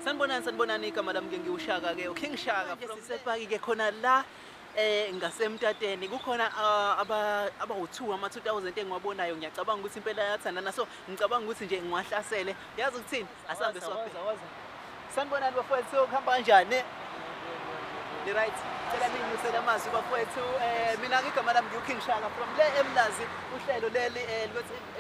Sanibonani sanibonani igama lami ke ngiwushaka ke uKing Shaka from Sepaki ke khona la eh ngasemtateni kukhona ah, aba abawu2 ama 2000 engiwabonayo ngiyacabanga ukuthi impela yathandana so ngicabanga ukuthi nje ngiwahlasele yazi ukuthini asambe swaphe sanibonani bafowethu kuhamba kanjani ni right cela ningibusele amazwi bafowethu eh mina ngigama lami ngiwuking shaka from le emlazi uhlelo leli eh,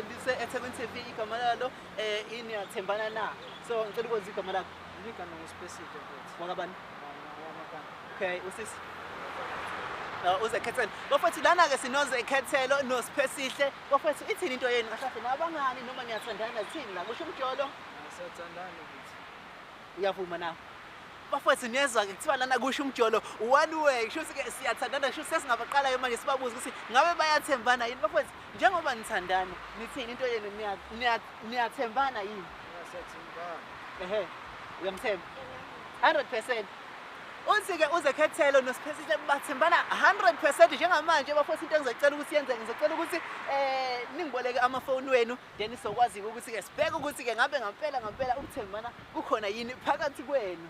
lise ethekwini tv igama lalo Eh ini yathembana na. So ngicela ukwenza igama lakho. Ngika no specific ukuthi. Wakabani? Okay, usisi. Uh, uze khethelo bafethu lana ke sinoze khethelo nosiphesihle bafethu ithini into yenu kahle nabangani noma niyathandana thini la kusho umjolo siyathandana ukuthi uyavuma na bafethu niyezwa ke kuthiwa lana kusho umjolo one way kusho ukuthi ke siyathandana kusho sesingabaqalayo manje sibabuza ukuthi ngabe bayathembana yini bafethu Njengoba nithandana, nithini into yenu niyathembana yini? Siyathembana. Ehe. Uyamthemba? 100%. Uthi-ke uzekhethelo nosiphehlile bathembana 100% njengamanje bafotha into engizocela ukuthi yenzeke ngizocela ukuthi eh ningiboleke amafoni wenu then sizokwazi-ke ukuthi-ke sibheke ukuthi-ke ngabe ngampela ngampela ukuthembana kukhona yini phakathi kwenu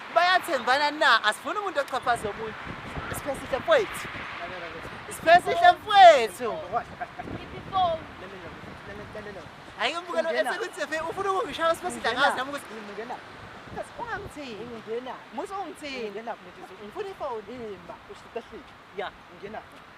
bayathembana na asifuni umuntu oxhaphaza omunye isiphe sihle mfowethu isiphe sihle mfowethu hayi umbukelo esekuthi ufuna ukungishaya isiphe sihle ngazi nami ukuthi ngingena ungangithini ngingena musa ungithini ngingena ngifuna ifoni imba ushitahlile ya ngingena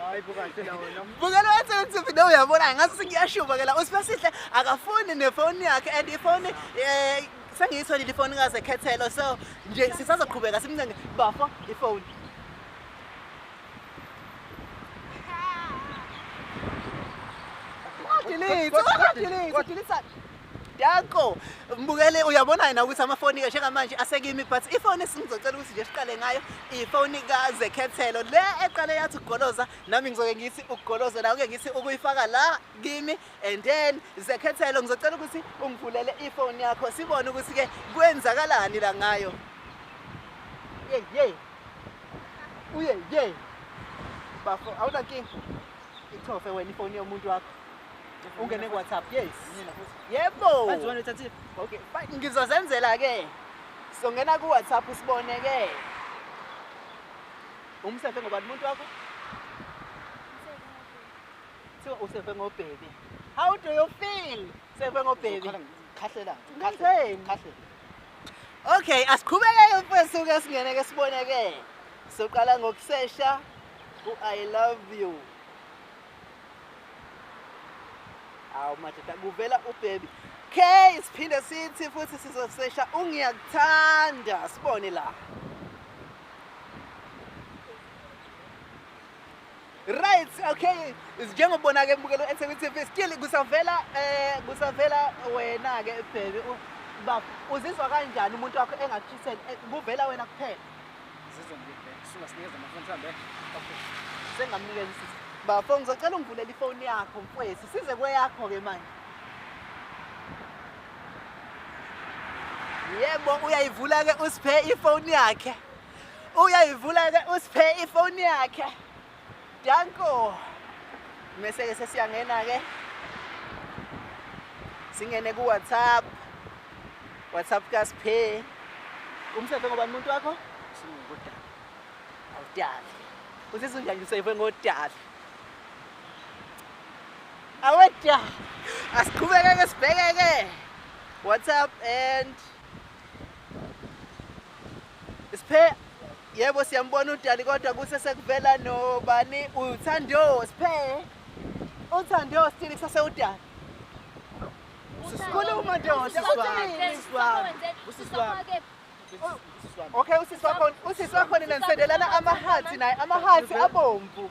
Hayi buka nje la wena. Buka lo wathi uthi no uyabona ngathi sengiyashuba ke la uSibasihle akafuni nefoni yakhe and ifoni eh sengiyitholile ifoni kaze khethelo so nje sisazoqhubeka simncenge bafo ifoni. Delete, delete, delete. Dako mbukele uyabona yena ukuthi amafoni ke njengamanje asekimi but ifoni esingizocela ukuthi nje siqale ngayo ifoni ka Zekhethelo le eqale yathi ugoloza nami ngizoke ngithi ugoloza nawe ke ngithi ukuyifaka la kimi and then Zekhethelo ngizocela ukuthi ungivulele ifoni yakho sibone ukuthi ke kwenzakalani la ngayo Yey yey Uye yey Bafo awunankinga ichofe wena ifoni yomuntu wakho ungene ku WhatsApp yes yebo okay fine ngizozenzela ke so ngena ku WhatsApp usibone ke umsefe ngoba umuntu wakho so usefe ngo baby how do you feel sefe ngo baby khahlela khahlela okay asiqhubekeke mfethu ke singene ke sibone ke soqala ngokusesha u i love you awu madoda kuvela ubhebi okay siphinde sithi futhi sizosesha ungiyakuthanda sibone la right okay njengobona ke mbukelo eThekwini TV still kusavela eh kusavela wena ke baby uzizwa kanjani umuntu wakho engakuthuseli eh, kuvela wena kuphela Bafo ngizocela ungivulele ifoni yakho mfwethu size kweyakho-ke manje yebo uyayivula-ke usiphe ifoni yakhe uyayivula-ke usiphe ifoni yakhe Danko. Mese ke sesiyangena ke. Singene ku WhatsApp. WhatsApp ka Sphe. Umsebenzi ngoba umuntu wakho? Singodala. Awudala. Usizwe njani useyife ngodala? Awedya. Asiqhubeke ke sibheke ke. WhatsApp and Sphe yebo siyambona udali kodwa kuse sekuvela nobani uthando Sphe uthando still kusase udali Sikhuluma nje usisi wami. Okay usisi wakho usisi wakho nina nisendelana amahathi naye amahathi abomvu.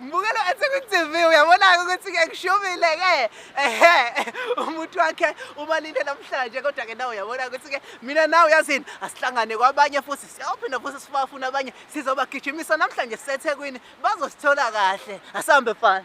mbukelo ethi kwi-tv uyabona-ke ukuthi-ke kushubile-ke ehe umuntu wakhe ubalile namhlanje kodwa-ke nawe uyabona ukuthi-ke mina nawe uyazini asihlangane kwabanye futhi siyawuphinda futhi sibafuna abanye sizobagijimisa namhlanje sisethekwini bazosithola kahle asihambe fana